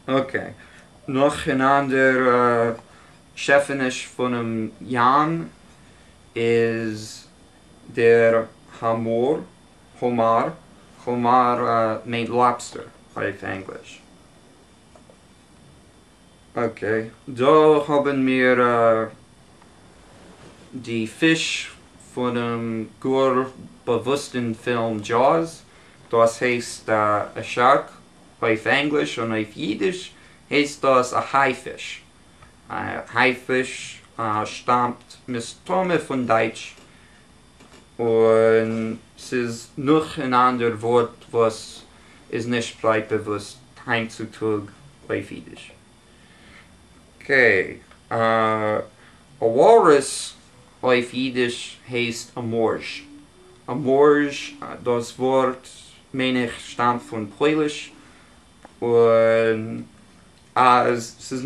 אקעי, נאך אן אנדערע שעפעניש פונעם ים איז דער האמאר, Homar, האמאר מיינט לאבסטער אויף ענגליש. אקעי, דא האבן מיר די פיש פונעם גאר באוואוסטן פילם Jaws, דאס הייסט א שארק. אויף ענגליש און אויף אידיש הייסט דאס א הייפיש. א הייפיש שטאמט מסתמא פון דייטש, און ס'איז נאך אן אנדער ווארט וואס איז נישט ברייט באוואוסט היינט צו טאג אויף אידיש. ק, א וואלרעס אויף אידיש הייסט א מארזש. א מארזש, דאס ווארט מיין איך שטאמט פון פויליש, און אז ס'איז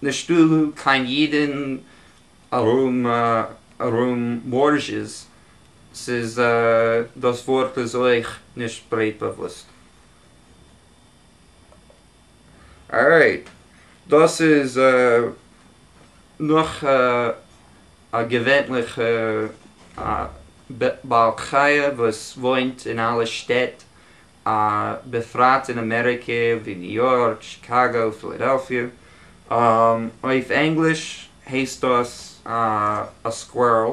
נישטא קיין אידן ארום מארזש'ס, ס'איז דאס ווארט איז אויך נישט ברייט באוואוסט. ארייט, דאס איז נאך א געווענליכע בעל חי' וואס וואוינט אין אלע שטעט, בפרט אין אמעריקע ווי ניו יארק, שיקאגא, פילאדעלפיע. אויף ענגליש הייסט דאס א סקווערל,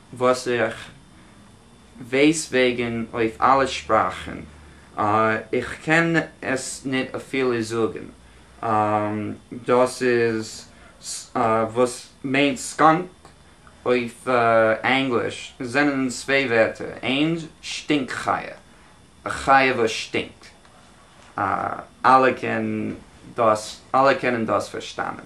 וואס איך ווייס וועגן אויף אלע שפראכן, איך קען עס ניט אפילו זאגן, דאס איז וואס מיינט סקאנק אויף ענגליש, זענען צוויי ווערטער, איינס שטינק חיה, א חיה וואס שטינקט, אלע קענען דאס פארשטאנען.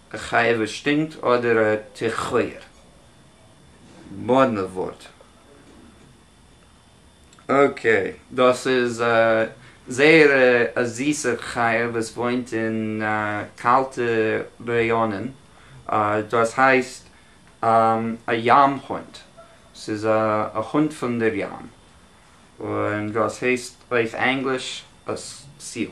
א חיה וואס שטינקט אדער א תיכויער? מאדנע ווארט. אקעי. דאס איז א זייער א זיסע חיה וואס וואוינט אין קאלטע ראיאנען, דאס הייסט א ים הונט, ס'איז א הונט פון דער ים, און דאס הייסט אויף ענגליש א סיעל.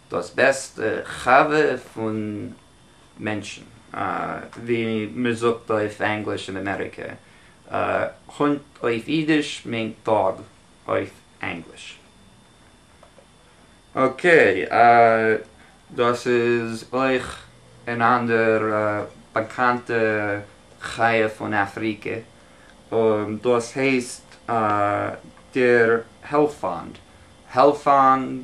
דאס בעסטע חבר פון מענטשן, ווי מען זאגט אויף ענגליש אין אמעריקע, הונט אויף אידיש מיינט דאג אויף ענגליש. אקעי, דאס איז אויך אן אנדער באקאנטע חיה פון אפריקע, און דאס הייסט דער העלפאנד, העלפאנד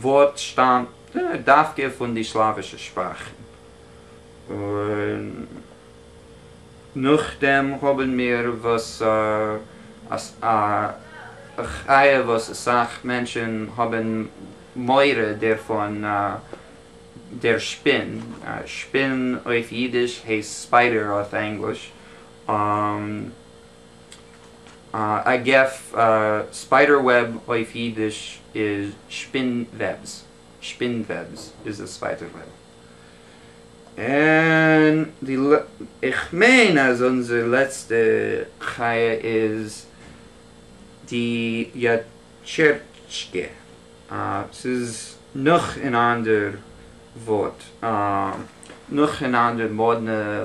ווארט שטאמט דווקא פון די סלאווישע שפראכן, און נאכדעם האבן מיר וואס א חיה וואס אסאך מענטשן האבן מורא דערפון, דער שפין, שפין אויף אידיש הייסט ספיידער אויף ענגליש. א געף, ספיידער וועב אויף אידיש איז שפין וועבס, שפין וועבס איז די ספיידער וועב. און די איך מיין אז אונזער לעצטע חיה איז די יאטשערטשקע, ס'איז נאך אן אנדער ווארט, נאך אן אנדער מאדנע.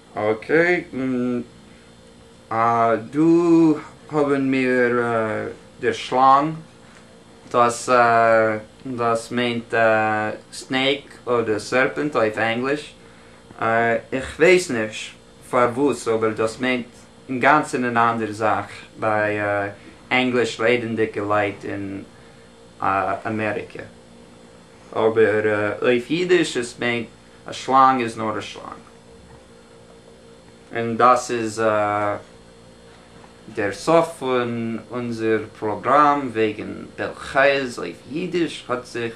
אקעי, אה, דא האבן מיר דער שלאנג, דאס דאס מיינט סנעיק אדער סערפענט אויף ענגליש, איך ווייס נישט פארוואס אבער דאס מיינט אינגאנצן אן אנדערע זאך ביי ענגליש רעדענדיגע לייט אין אמעריקע, אבער אויף אידיש עס מיינט א שלאנג איז נאר א שלאנג, און דאס איז דער סוף פון אונזער פראגראם וועגן בעל חיות אויף אידיש, האט זיך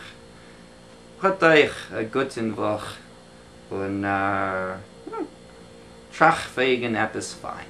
האט אייך א גוטן וואך, און טראכט וועגן עפעס פיין.